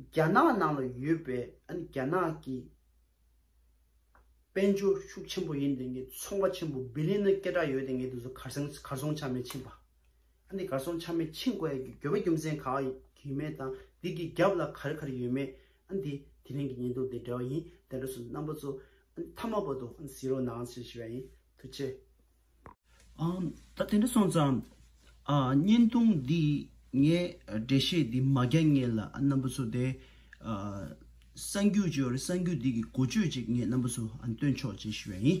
རྒྱ་ནག་ནང་ལ་ཡོད་པའི་རྒྱ་ནག་གི་དཔལ་འབྱོར་ཤུགས་ཆེན་པོ་ཡིན་དེ་ངས་ཚོང་པ་ཆེན་པོ Billion ནི་སྐད་གྲགས་ཡོད་དེ་ངས་དེ་ཚོ་གར་སོང་གར་སོང་ཆ་མེད་ཕྱིན་པ། ཨ་འདི་གར་སོང་ཆ་མེད་ཕྱིན་དགོས་ཡ་གི་གྱོད་པ་རྒྱུ་མཚན་ག་ཡོད་མེད་དང་དེ་གི་རྒྱབ་ལ་ག་རེ་ག་རེ་ཡོད་མེད་ཨ་འདི་དེ་རིང་གི་ཉེན་རྟོག་དེ་འདྲ་བ་ཡིན་དེ་འདྲ་སུ་རྣམ་པ་ཚོ་ཨ་འདི་མཐའ་མ་བར་དུ་ཨ་འདི་བཟི་རོགས་གནང་ཟེར་ཞེས་པ་ཡིན་ཐུགས་ཆེ། ཨང། ད་དེ་འདྲ་སོང་ཙང། བརྙན་ཐུང་འདི་ངས་འགྲེལ་བཤད་འདི་མ་རྒྱག་ངེས་ལ་ཨ་རྣམ་པ་ཚོ་དེ། གསང་རྒྱུད་ཅེས་པ་རེད་གསང་རྒྱུད་འདི་གི་གོ་ཆོད་ཅིག་ངས་རྣམ་པ་ཚོ་སྟོན་ཆོག་ཅེས་ཞུ་བ་ཡིན།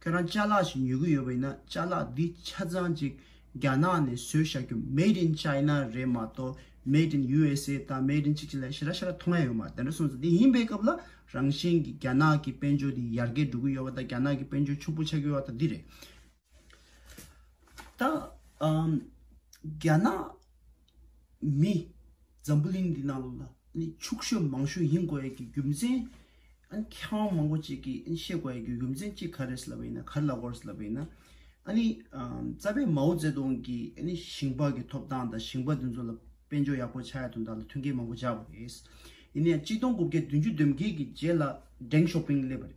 ཁྱོད་རང་ལྕགས་ལག་ཞིག་ཉོ་གི་ཡོད་པ་ཡིན་ན་ལྕགས་ལག་འདི་ཆ་ཚང་ཅིག་རྒྱ་ནག་ནས་བཟོས་བཞག་རྒྱུ Made in China རེད་མ་གཏོགས Made in USA དང Made in ཅིག་ཅིག་ལ་ཞེ་ར་ཞེ་ར་མཐོང་ཡ་ཡོད་མ་རེད་དེ་འདྲ་གསུངས་ཚེ་དེ་ཡིན་པའི་སྐབས་ལ་རང་བཞིན་གྱི་རྒྱ་ནག་གི་དཔལ་འབྱོར་འདི་ཡར་རྒྱས་འགྲོ་གི་ཡོད་པ་དང་རྒྱ་ནག་གི་དཔལ་འབྱོར་ཕྱུག་པོ་ཆགས་ཀྱི་ཡོད་པ་དང་འདི་རེད། ད་རྒྱ་ནག། མི། འཛམ་བུ་གླིང་འདི་ནང་ལ་ནི་ཕྱུག་ཤོས་མང་ཤོས་ཡིན་དགོས་ཡ་གི་རྒྱུ་མཚན། ཨ་ནི་མཁས་དབང་མང་པོ་ཅིག་གི་ཨ་ནི་བཤད་དགོས་ཡ་གི་རྒྱུ་མཚན་གཅིག་ག་རེད་ཟེར་ལབ་པ་ཡིན་ན་ག་རེ་ལབ་དགོས་རེད་ཟེར་ལབ་པ་ཡིན་ན། ཨ་ནི་རྩ་བའི་མའོ་ཙེ་ཏུང་གི་ཨ་ནི་ཞིང་པ་གི་ཐོབ་ཐང་དང་ཞིང་པ་དེ་ཚོ་ལ་དཔལ་འབྱོར་ཡག་པོ་ཆགས་ཡ་དོན་དག་ལ་མཐུན་རྐྱེན་མང་པོ་སྦྱར་བ་རེད། ཡིན་ན་ཡང་གཅིག་སྟོང་དགུ་བརྒྱ་བདུན་ཅུ་བདུན་བརྒྱད་ཀྱི་རྗེས་ལ Deng Xiaoping སླེབས་པ་རེད།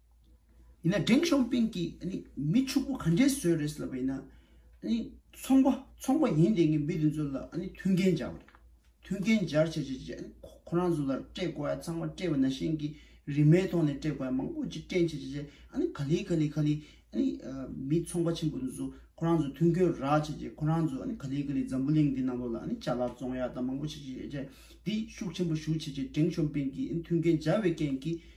ཡིན་ན་འབྲིང་ཞོང་པིང་གིས་ནི་མི་ཕྱུག་པོ་ག་འདྲའི་བཟོས་རེད་ལབ་པ་ཡིན་ན་ནི་ཚོང་པ་ཚོང་པ་ཡིན་དེ་ངས་མི་དེ་ཚོ་ལ་ནི་མཐུན་རྐྱེན་སྦྱར་བ་རེད་མཐུན་རྐྱེན་སྦྱར་བྱས་བྱས་བྱས་ཁོ་རང་ཚོ་ལ་སྤྲད་དགོས་ཡ་ཚང་མ་སྤྲད་པ་ན་གཞན་གྱི་རིན་མའི་ཐོག་ནས་སྤྲད་དགོས་ཡ་མང་པོ་ཅིག་སྤྲད་བྱས་བྱས་བྱས་ག་ལི་ག་ལི་ག་ལི་ནི་མི་ཚོང་པ་ཆེན་པོ་དེ་ཚོ་ཁོ་རང་ཚོ་མཐུན་རྐྱེན་རག་བྱས་བྱས་ཁོ་རང་ཚོ་ནི་ག་ལི་ག་ལི་འཛམ་བུ་གླིང་འདི་ནང་ལོགས་ལ་ནི་བྱ་གླག་བཙོང་ཡ་དང་མང་པོ་བྱས་བྱས་བྱས་བྱས་འདི་ཤུགས་ཆེན་པོ་ཞུགས་བྱས་བྱས་འབྲིང་ཞོང་པིང་གིས་མཐུན་རྐྱེན་སྦྱར་བའི་རྐྱེན་གྱིས།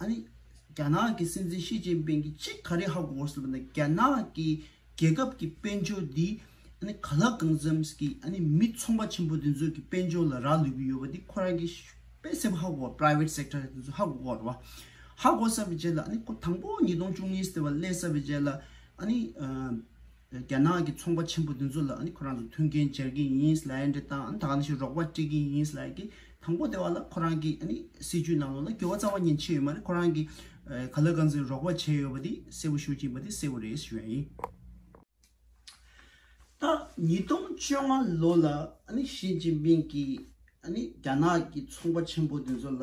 ཨ་རི། རྒྱ་ནག་གི་སྲིད་འཛིན་ཞི་ཅིན་ཕིན་གྱིས་ཅི་ག་རེ་ཧ་གོ་སྲིད་པ་ན་རྒྱ་ནག་གི་རྒྱལ་ཁབ་ཀྱི་དཔལ་འབྱོར་འདི་ཨ་ནི་ག་ལ་གང་འཚམ་གྱི་ཨ་ནི་མི་ཚོང་པ་ཆེན་པོ་དེ་ཚོ་གི་དཔལ་འབྱོར་ལ་རག་ལུས་ཀྱི་ཡོད་པ་དེ་ཁོ་རང་གི་དཔེ་གསལ་པོ་ཧ་གོ་བ Private Sector དེ་ཚོ་ཧ་གོ་གོ་རེད་བ། ཧ་གོ་ས་པའི་རྗེས་ལ་ཨ་ནི་དང་པོ་ཉིས་སྟོང་བཅུ་གཉིས་སྟེ་བ་སླེབས་ས་པའི་རྗེས་ལ་ཨ་ནི། རྒྱ་ནག་གི་ཚོང་པ་ཆེན་པོ་དེ་ཚོ་ལ་ཁོ་རང་ཚོ་མཐུན་རྐྱེན་སྦྱར་གྱི་ཡིན། སླད་དེ་དག་ད་ག་ནས་ཤིག་རོགས་པ་སྤྲད་ཀྱི་ཡིན། སླད་དེ་དང་པོ་དེ་བ་ལ་ཁོ་རང་གི་སྲིད་ཇུས་ནང་ལོགས་ལ་འགྱུར་བ་རྩ་བ་ཉིད་ཕྱིན་ཡོད་མ་རེད། ཁོ་རང་གིས་ག་ལ་ག་ཚོད་རོགས་པ་བྱས་ཡོད་པ་དེ་གསལ་བོ་ཞུ་གྱིན་པ་དེ་གསལ་བོ་རེད་ཞུ་ཡ་ཡིན། ད་ཉིས་སྟོང་བཅོ་ལྔ་ལོ་ལ་ཞིས་ཅིན་ཕིང་གིས་རྒྱ་ནག་གི་ཚོང་པ་ཆེན་པོ་དེ་ཚོ་ལ་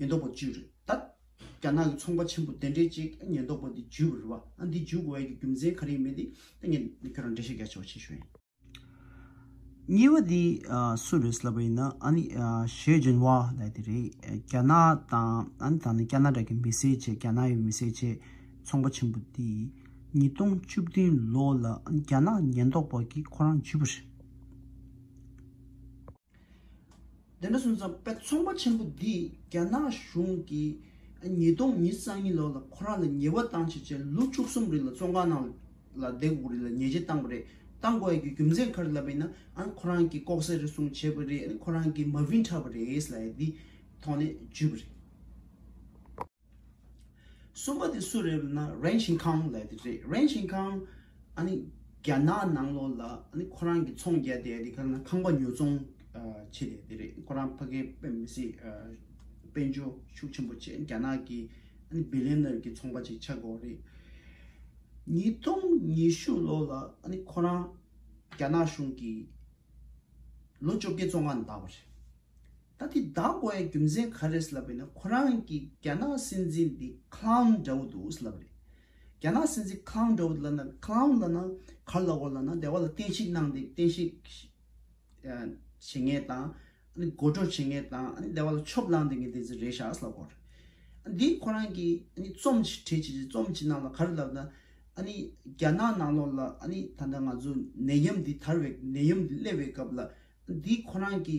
ཉེན་རྟོག་པ་བཅུ་རེད་ད། རྒྱ་ནག་གི་ཚོང་པ་ཆེན་པོ་དེ་འདྲས་ཅིག་ཉེན་རྟོག་པ་འདི་འཇུས་རེད་བ། ཨ་འདི་འཇུས་དགོས་ཡ་གི་རྒྱུ་མཚན་ག་རེ་མེད་དེ། ད་ངས་ཁྱོད་རང་འགྲེལ་བཤད་རྒྱག་ཆོག་ཆེ་ཞུ་ཡིན། གཉིས་པ་དེ་སུ་རེད་ལབ་པ་ཡིན་ན་ཨ་ནི་ཞེ་ཇིན་བྷ་ལའི་དེ་རེད། རྒྱ་ནག་དང་ཨ་ནི་ད་ནི་ཀ་ན་ར་གི་མི་སེར་བྱས་རྒྱ་ནག་ཡི་མི་སེར་བྱས་ཚོང་པ་ཆེན་པོ་དེ་ཉིས་སྟོང་བཅུ་བདུན་ལོ་ལ་རྒྱ་ནག་ཉེན་རྟོག་པ་གིས་ཁོ་རང་འཇུས་པ་རེད། བདེན་པ་གསུམ་ཚང་དཔེ་ཚོང་པ་ཆེན་པོ་འདིས་རྒྱ་ནག་གཞུང་གིས་ཉིས་སྟོང་ཉིས་གསང་གཉིས་ལོ་ལ་ཁོ་རང་ལ་ཉེས་པ་བཏང་བྱས་རྗེས་ལོ་བཅུ་གསུམ་རིང་ལ་བཙོན་ཁང་ནང་ལ་བསྡད་དགོས་རིགས་ལ་ཉེས་ཆད་བཏང་པ་རེད་བཏང་དགོས་ཡ་རྒྱུ་རྒྱུ་མཚན་ག་རེ་ལབ་པ་ཡིན་ན་ཨ་ཁོ་རང་གིས་ལྐོག་ཟ་རེ་ཟུང་བྱས་པ་རེད་ཨ་ཁོ་རང་གིས་མ་བིན་ཁྲབ་པ་རེད་ལ་ཡ་འདིས་ཐོག་ནས་བརྒྱུད་པ་རེད། གསུམ་པ་དེ་སུ་རེད་ན་རེན་ཞིན་ཁང་ལས་དེ་རེད་རེན་ཞིན་ཁང་ཨ་ནི་རྒྱ་ནག་ནང་ལོགས་ལ་ཨ་ནི་ཁོ་རང་གི་ཚོང་རྒྱ་དེ་ཨ་ནི་ཁ་ན་ཁང་པ་ཉོ་ཚོང་བྱེད་དེ་དེ་རེད་ཁོ་རང་ཕ་གིན་པེན་མི་སྲིད་དཔལ་འབྱོར་ཤུགས་ཆེན་པོ་བྱེད་རྒྱ་ནག་གི་ཨ་ནི་བི་ལེ་ནར་གི་ཚོང་པ་ཅིག་ཆགས་དགོས་རེད། ཉིས་སྟོང་ཉི་ཤུ་ལོ་ལ་ཨ་ནི་ཁོ་རང་རྒྱ་ནག་གཞུང་གི་ལོ་བཅོ་བརྒྱད་བཙོང་ཁང་འདག་པ་རེད་ད་འདི་བདག་མགོ་ཡའི་རྒྱུ་མཚན་ག་རེད་ལབ་པའི་ན་ཁོ་རང་གི་རྒྱ་ནག་སྲིད་འཛིན་འདི clown འདྲ་བོ་འདུག་ལབ་རེད་རྒྱ་ནག་སྲིད་འཛིན clown འདྲ་བོ་འདུག་ལབ་ན clown ལབ་ན་གར་ལ་བོར་ལ་ན་དེ་བ་ལ་བསྟན་བཤིག་གནང་སྟེ་བསྟན་བཤིག་བྱེད་ངེས་དང་དགོད་བྲོ་བྱེད་ངེས་དང་དེ་བ་ལ་ཆོབ་ལང་དེ་ངེས་དེ་ཚོ་རེད་ཤག་ལབ་དགོས་རེད་འདི་ཁོ་རང་གི་རྩོམ་ཕྲད་བྱེད་བྱེད་རྩོམ་བྱེད་གནང་ལ་ག་རེ་ལབ་ན་རྒྱ་ནག་ནང་ལོག་ལ་ད་ལྟ་ང་ཚོ་ནད་ཡམས་འདི་དར་བའི་ནད་ཡམས་འདི་སླེབ་བའི་སྐབས་ལ་འདི་ཁོ་རང་གི་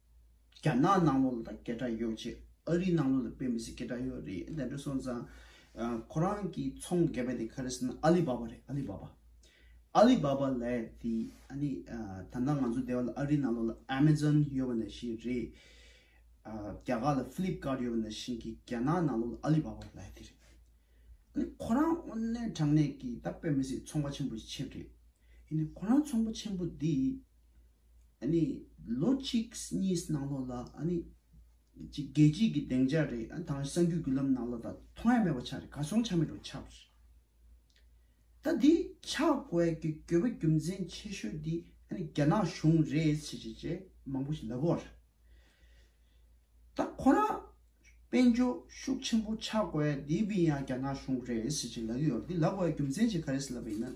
རྒྱ་ནག་ནང་ལོགས་ལ་དང་སྐད་གྲགས་ཡོད་ཅེས་ཨ་རིའི་ནང་ལོགས་ལ་དཔེ་མི་སྲིད་སྐད་གྲགས་ཡོད་རེད་དེ་འདྲ་སོང་ཙང། ཁོ་རང་གི་ཚོང་རྒྱབ་པ་དེ་ག་རེ་ཟེར་ན་ཨ་ལི་བྷ་བྷ་རེད་ཨ་ལི་བྷ་བྷ། ཨ་ལི་བྷ་བྷ་ལས་དེ་ཨ་ནི་ད་ལྟ་ང་ཚོ་སྡེ་བ་ལ་ཨ་རིའི་ནང་ལོགས་ལ་ཨ་མེ་ཛོན་ཡོད་པ་འདྲ་བཞིན་རེད། རྒྱ་གར་ལ་ཕི་ལིབ་ཀཱར་ཡོད་པ་འདྲ་བཞིན་གྱི་རྒྱ་ནག་ནང་ལོགས་ལ་ཨ་ལི་བྷ་བྷ་ལས་དེ་རེད། ཨ་ནི་ཁོ་རང་དབུ་མའི་དྲང་གནས་ཀྱི་ད་དཔེ་མི་སྲིད་ཚོང་པ་ཆེན་པོ་ཞིག་ཆེད་རེད། ཨ་ནི་ཁོ་རང་ཚོང་པ་ཆེན་པོ་འདིས་ཨ་ནི་ལོ་གཅིག་གཉིས་ནང་ལོགས་ལ་ཨ་ནི་གཅིག་རྒྱལ་སྤྱིའི་གི་སྡེངས་ཆ་རེད་ཨ་དང་གསང་རྒྱུད་རྒྱུད་ལམ་ནང་ལོགས་ད་མཐོང་ཡ་མེད་པ་ཆགས་རེད་ག་སོང་ཆ་མེད་རུ་ཆགས་པ་རེད་ད་འདི་ཆགས་དགོས་གི་དགོས་པ་རྒྱུ་མཚན་ཆེ་ཤོས་འདི་ཨ་ནི་རྒྱ་ནག་གཞུང་རེད་ཅེས་ཅེས་ཅེས་མང་པོ་ཞིག་ལབ་བོ་རེད་ད་ཁོ་རང་དཔལ་འབྱོར་ཤུགས་ཆེན་པོ་ཆགས་དགོས་འདི་བི་ཡང་རྒྱ་ནག་གཞུང་རེད་ཅེས་ཅེས་ལབ་ཡོད་རེད་འདི་ལབ་དགོས་གི་རྒྱུ་མཚན་ཅིག་ག་རེད་ཟེར་ལབ་པ་ཡིན་ན།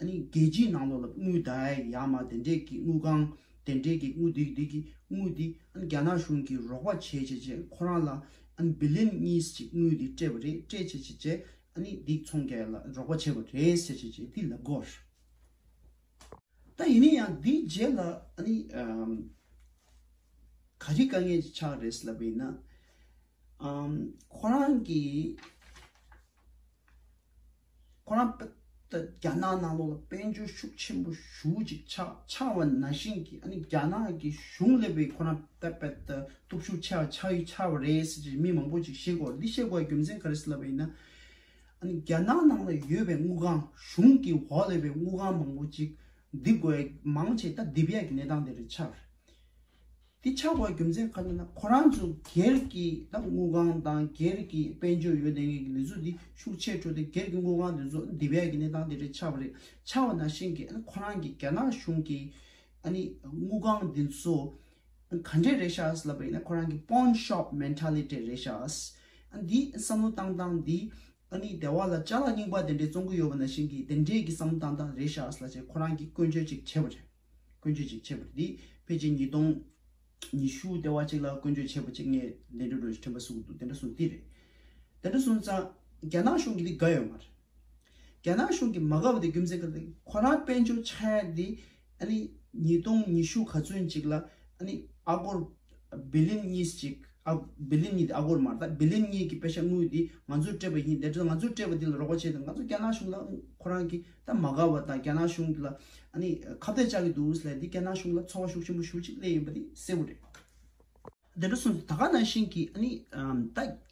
ཨ་ནི་རྒྱལ་སྤྱིའི་ནང་ལོགས་ལ་དངུལ་དེ་ཡག་མ་དེ་འདྲས་ཀྱི་དངུལ་གང་དེ་འདྲས་ཀྱི་དངུལ་དེ་འདྲས་ཀྱི་དངུལ་དེ་ཨ་ནི་རྒྱ་ནག་གཞུང་གིས་རོགས་པ་བྱས་བྱས་བྱས་ཁོ་རང་ལ་ཨ་ནི་བི་ལིན་གཉིས་ཀྱི་དངུལ་དེ་སྤྲད་པ་རེད་སྤྲད་བྱས་བྱས་བྱས་ཨ་ནི་སྡིག་ཚོང་རྒྱ་ཡ་ལ་རོགས་པ་བྱས་པ་རེད་ཟེར་བྱས་བྱས་བྱས་དེ་ལབ་དགོས་རེད་ད་ཡིན་ན་ཡང་དེའི་རྗེས་ལ་ཨ་ནི་ག་རེ་དཀའ་ངལ་ཆགས་རེད་ཟེར་ལབ་པ་ཡིན་ན་ཁོ་རང་གིས། ཁོ་རང་པད་ད་རྒྱ་ནག་ནང་ལོགས་ལ་དཔལ་འབྱོར་ཤུགས་ཆེན་པོ་ཞུགས་ཅིག་ཆ་ཆང་བ་ན་བཞིན་གྱི་ཨ་ནི་རྒྱ་ནག་གི་གཞུང་སླེབས་པའི་ཁོ་རང་པད་པད་ད་སྟོབས་ཤུགས་ཆེ་བ་ཆགས་ཡུལ་ཆགས་པ་རེད་ཟེར་ཅིག་མི་མང་པོ་ཅིག་ཤེས་དགོས་འདི་ཤེས་དགོས་རྒྱུ་མཚན་ག་རེ་ཟེར་ལབ་པ་ཡིན་ན་ཨ་ནི་རྒྱ་ནག་ནང་ལ་ཡོད་པའི་དངུལ་ཁང་གཞུང་གི་འོག་སླེབས་པའི་དངུལ་ཁང་མང་པོ་ཅིག་འདི་དགོས་མང་ཆེ་ད་འདི་བས་ཀྱི་གནས་སྟངས་དེ་རེད་ཆགས་རེད། འདི་ཆགས་པ་རྒྱུ་མཚན་ག་ནས་ན་ཁོ་རང་ཚོ་སྒེར་གྱི་དང་དངུལ་ཁང་དང་སྒེར་གྱི་དཔལ་འབྱོར་ཡོད་ལས་ངན་གྱི་ལས་འཛུགས་འདི་ཤུགས་ཆེར་འཕྲོ་སྟེ་སྒེར་གྱི་དངུལ་ཁང་དེ་ཚོ་འདི་བས་ཀྱི་གནས་སྟངས་དེ་འདྲ་ཆགས་པ་རེད་ཆགས་པ་ན་བཞིན་གྱི་ཁོ་རང་གི་རྒྱ་ནག་གཞུང་གི་ཨ་ནི་དངུལ་ཁང་འདི་ཚོ་ག་འདྲས་རེད་ཤག་ལབ་པ་ཡིན་ན་ཁོ་རང་གི Pawn Shop Mentality རེད་ཤག་ཨ་འདི་བསམ་བློ་བཏང་སྟངས་འདི་ཨ་ནི་སྡེ་བ་ལ་ལྕགས་ལ་རྙིང་པ་དེ་འདྲས་བཙོང་གི་ཡོད་པ་ན་བཞིན་གྱི་དེ་འདྲས་ཀྱི་བསམ་བློ་བཏང་སྟངས་རེད་ཤག་ལ་བྱས་ཁོ་རང་གིས་བཀོལ་སྤྱོད་ཅིག་བྱས་པ་རེད། བཀོད་ཇུས་གཅིག་ཆེད་པུ་དེ་ཕལ་ཆེར་ཉིས་སྟོང་ཉི་ཤུ་སྟེ་བ་གཅིག་ལ་བཀོད་ཇུས་ཆེད་པུ་གཅིག་ངས་ལན་དྲུག་རེ་ཕྲན་པ་གསུངས་འདུག་དེ་འདྲ་གསུངས་དེ་རེད། དེ་འདྲ་གསུངས་ཙང་རྒྱ་ནག་གཞུང་གི་དེ་དགའ་ཡོད་མ་རེད། རྒྱ་ནག་གཞུང་གི་མ་དགའ་བ་དེ་རྒྱུ་མཚན་ག་རེད། ཁོ་རང་དཔལ་འབྱོར་ཆག་ཡ་དེ་ཨ་ནི་ཉིས་སྟོང་ཉི་ཤུ་ག་ཚུན་ཅིག་ལ་ཨ་ནི་ཨ་སྒོར། བི་ལིན་གཉིས་སུ་གཅིག། བི་ལིན་གཉིས་དེ་ཨ་གོར་མ་རེད་ད། བི་ལིན་གཉིས་ཀྱི་དཔེ་ཆ་དངུལ་དེ་ང་ཚོས་སྤྲད་པ་ཡིན། དེ་འདྲ་ང་ཚོས་སྤྲད་པ་དེ་ལ་རོགས་པ་བྱས་ཏེ་ང་ཚོ་རྒྱ་ནག་གཞུང་ལ་ཁོ་རང་གིས་ད་མ་དགའ་བ་དང་རྒྱ་ནག་གཞུང་དེ་ལ་ཨ་ནི་ཁ་བརྡ་བཅག་གི་འདུག་སླད་དེ་རྒྱ་ནག་གཞུང་ལ་ཚོར་བ་ཤུགས་ཆེན་པོ་ཞུ་ཅིག་སླད་ཡིན་པ་དེ་གསལ་བོ་རེད། དེ་འདྲ་སོང་ཚེ་ད་ག་ནང་བཞིན་གྱིས་ཨ་ནི་ད།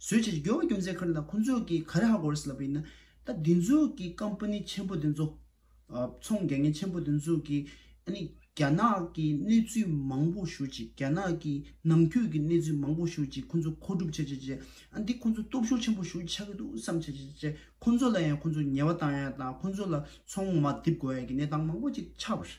བཟོས་བྱས་ཀྱི་དགེ་བ་རྒྱུ་མཚན་ཁར་ན་ཁོ་ཚོས་ཀྱིས་ག་རེ་ཧ་གོ་རེད་ཟེར་ལབ་པ་ཡིན་ན། ད་འདི་ཚོས་ཀྱིས་ཀམ་པ་ནི་ཆེན་པོ་འདི་ཚོ། ཚོང་རྒྱག་མཁན་ཆེན་པོ་འདི་ཚོས་ཀྱིས་ཨ་ནི་རྒྱ་ནག་གི་གནས་ཚུལ་མང་པོ་ཞུ་ཅིག་རྒྱ་ནག་གི་ནང་ཁུལ་གྱི་གནས་ཚུལ་མང་པོ་ཞུ་ཅིག་ཁོ་ཚོ་མཁོ་སྒྲུབ་བྱ་བྱེད་ཅེས་ཨ་འདི་ཁོ་ཚོ་སྟོབས་ཤུགས་ཆེན་པོ་ཞུ་ཆགས་ཀྱི་འདུག་བསམ་བྱེད་བྱེད་ཅེས་ཁོ་ཚོ་ལ་ཡང་ཁོ་ཚོ་ཉེས་པ་བཏང་ཡ་དང་ཁོ་ཚོ་ལ་ཚོང་མ་རྡིབ་དགོས་ཡ་ཀྱི་གནས་སྟངས་མང་པོ་ཅིག་ཆགས་པ་རེད།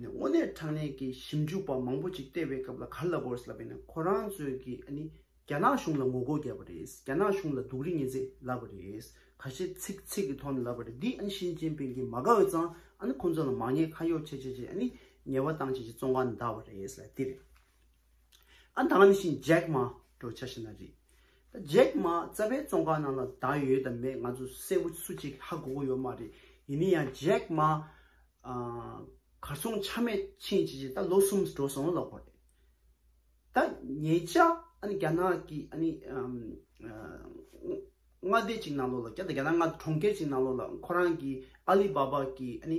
ནས་དངོས་གནས་དྲང་གནས་ཀྱི་ཞིབ་འཇུག་པ་མང་པོ་ཅིག་ལྟེ་བའི་སྐབས་ལ་གྷར་ལ་གོར་སི་ལ་བས་ན་ཁོ་རང་ཚོས་ཀྱི་ཨ་ནི་རྒྱ་ནག་གཞུང་ལ་ངོ་རྒོལ་བརྒྱབ་པ་རེད་རྒྱ་ནག་གཞུང་ལ་སྡུག་རིས་ངན་ཚད་ལབ་པ་རེད་ག་ཤེད་ཚིག་ཚིག་གི་ཐོག་ནས་ལབ་པ་རེད་འདི་ཨ་ནི་ཞིན་ཅིན་ཕིན་གྱིས་མ་དགའ་འོས་ཙང་ཨ་ནི་ཁོང་ཚོ་ལ་མ་ཉེས་ཁ་གཡོག་བྱེད་བྱེད་བྱེད་ཨ་ནི་ཉེས་བ་བཏང་བྱེད་ཀྱི་བཙོང་ཁ་འདར་བ་རེད་ལ་འདིར། ཨ་ད་ལམ་བཞིན་ཇེག་མ་འགྲོ་ཆ་ཤི་ན་རེད། ད་ཇེག་མ་རྩ་བའི་ཙོང་ཁ་ནང་ལ་ད་ཡོད་ད་མེད་ང་ཚོ་གསལ་བོ་སུ་གཅིག་ཧ་གོ་གོ་ཡོད་མ་རེད་ཡིན་ནི་ཡང་ཇེག་མ་གར་སོང་ཆ་མེད་ཕྱིན་ཅི་ཅི་ད་ལོ་གསུམ་འགྲོ་སོང་ལོ་ལོག་པ་རེད། ད་ངེད་ཅག་ཨ་ནི་རྒྱ་ནག་གི་ཨ་ནི་མངའ་སྡེ་གཅིག་ནང་ལོག་ལ་རྒྱ་ནག་མངའ་གྲོང་ཁྱེར་གཅིག་ནང་ལོག་ལ་ཁོ་རང་གི་ཨ་ལི་བཱ་བཱ་གི་ཨ་ནི།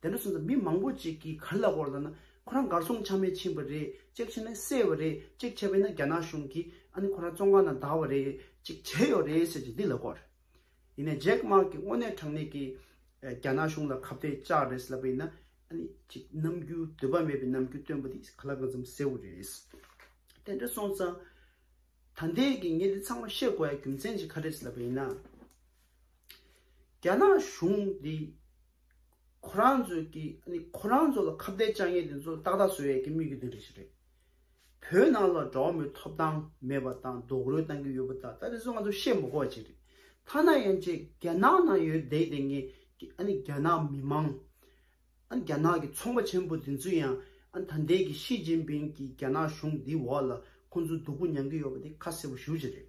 དེ་འདྲ་སོང་ཙང་མི་མང་པོ་ཅིག་གིས་ག་ལ་བོར་ལ་ན་ཁོ་རང་གར་སོང་ཆ་མེད་ཕྱིན་པ་རེད་ཅེག་བྱས་ནས་བསད་བ་རེད་ཅེག་བྱས་པས་ན་རྒྱ་ནག་གཞུང་གིས་ཨ་ནི་ཁོ་རང་བཙོང་ཁང་ན་བདའ་བ་རེད་ཅེག་བྱས་ཡོད་རེད་ཟེར་ཅིག་འདི་ལ་གོ་རེད། ཡིན་ནས་ཇེག་དམག་གིས་དངོས་གནས་དྲང་གནས་ཀྱིས་རྒྱ་ནག་གཞུང་ལ་ཁ་བརྡའི་ལྕག་རེད་ཟེར་ལབ་པས་ན་ཨ་ནི་ཅིག་ནམ་རྒྱུན་འདོད་པ་མེད་པའི་ནམ་རྒྱུན་སྟོན་པ་འདི་ག་ལ་གང་འཚམ་གསལ་བོ་རེད། དེ་འདྲ་སོང་ཙང་ད་ལྟའི་གི་ངས་འདི་ཚང་མ་བཤད་དགོས་ཡ་རྒྱུ་མཚན་ཅིག་ག་རེད་ཟེར་ལབ་པས་ན། རྒྱ་ནག་གཞུང་འདི་ཁོ་རང་ཚོས་ཀྱི་ཁོ་རང་ཚོ་ལ་ཁ་བརྡའི་དཔྱ་ངན་དེ་ཚོ་ཏག་ཏག་བཟོས་ཡག་གི་དམིགས་ཡུལ་དེ་འདྲ་ཞིག་རེད། བོད་ནང་ལ་གྲྭ་བ་མོའི་ཐོབ་ཐང་མེད་པ་དང་རྡོག་རོལ་གཏང་གི་ཡོད་པ་དག་ད་རེས་ཚོ་ང་ཚོ་བཤད་མ་གོ་བ་ཅིག་རེད། ཐ་ན་ཡན་ཆད་རྒྱ་ནག་ནང་ཡོད་བསྡད་བསྡད་ངན་རྒྱ་ནག་མི་མང་རྒྱ་ནག་གི་ཚོང་པ་ཆེན་པོ་དེ་ཚོ་ཡང་ད་ལྟའི་གི་ཤི་ཅིན་ཕིན་གྱི་རྒྱ་ནག་གཞུང་འདིའི་འོག་ལ་ཁོ་ཚོ་སྡུག་པོ་མྱང་གི་ཡོད་པ་དེ་ཁ་གསལ་པོ་ཞུ་བྱེད་རེད།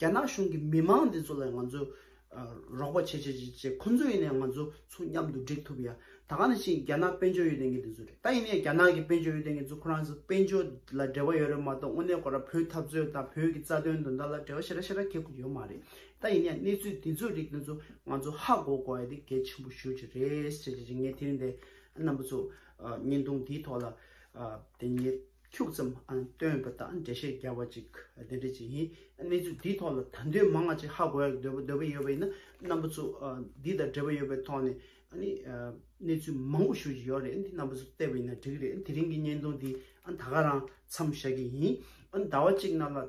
རྒྱ་ནག་གཞུང་གི་མི་མང་འདི་ཚོ་ལ་ང་ཚོས་རོགས་པ་བྱེད་བྱེད་བྱེད་བྱེད་ཁོ་ཚོ་ཡིན་ནའི་ང་ཚོ་ཚོ་མཉམ་དུ་འགྲིག་ཐུབ་ཡ། ད་ག་ནས་ཕྱིན་རྒྱ་ནག་དཔལ་འབྱོར་ཡོད་ལྡན་མཁན་འདི་ཚོ་རེད་ད་ཡིན་ནའི་རྒྱ་ནག་གི་དཔལ་འབྱོར་ཡོད་ལྡན་མཁན་ཚོ་ཁོ་རང་ཚོ་དཔལ་འབྱོར་ལ་འབྲེལ་བ་ཡོད་རེད་མ་གཏོགས་དངོས་གནས་ཁོ་རང་བོད་འཐབ་རྩོད་དང་བོད་ཀྱི་རྩ་དོན་དོན་དག་ལ་འབྲེལ་བ་ཤེ་ར་ཤེ་ར་ཁེལ་དགོས་ཀྱི་ཡོད་མ་རེད་ད་ཡིན་ནའི་གནས་ཚུལ་འདི་ཚོ་རིགས་འདི་ཚོ་ང་ཚོ་ཧ་གོ་གོ་ཡ་དེ་གལ་ཆེན་པོ་ཤོས་ཅིག་རེད་བྱེད་བྱེད་བྱེད་ངས་དེ་རིང་འདའི་རྣམ་པ་ཚོ་བརྙན་ཐུང་འདིའི་ཐོག་ལ་དེ་ཉིད། འཁྱུག་ཙམ་སྟོན་པ་དང་འགྲེལ་བཤད་རྒྱག་པ་ཅིག་དེ་འདྲ་ཅིག་ཡིན། གནས་ཚུལ་འདིའི་ཐོག་ལ་དང་དོད་མང་བ་ཅིག་ཧ་གོ་ཡ་འདོད་པ་འདོད་པ་ཡོད་པ་ཡིན་ན་རྣམ་པ་ཚོ་འདི་དང་འབྲེལ་བ་ཡོད་པའི་ཐོག་ནས་གནས་ཚུལ་མང་བོ་ཞུ་བཞིན་ཡོད་རེད་རྣམ་པ་ཚོ་བལྟས་པ་ཡིན་ན་འགྲིག་གི་རེད་དེ་རིང་གི་བརྙན་ཐུང་འདི་ད་ག་རང་མཚམས་བཞག་གི་ཡིན་ཟླ་བ་གཅིག་རྣམས་ལ།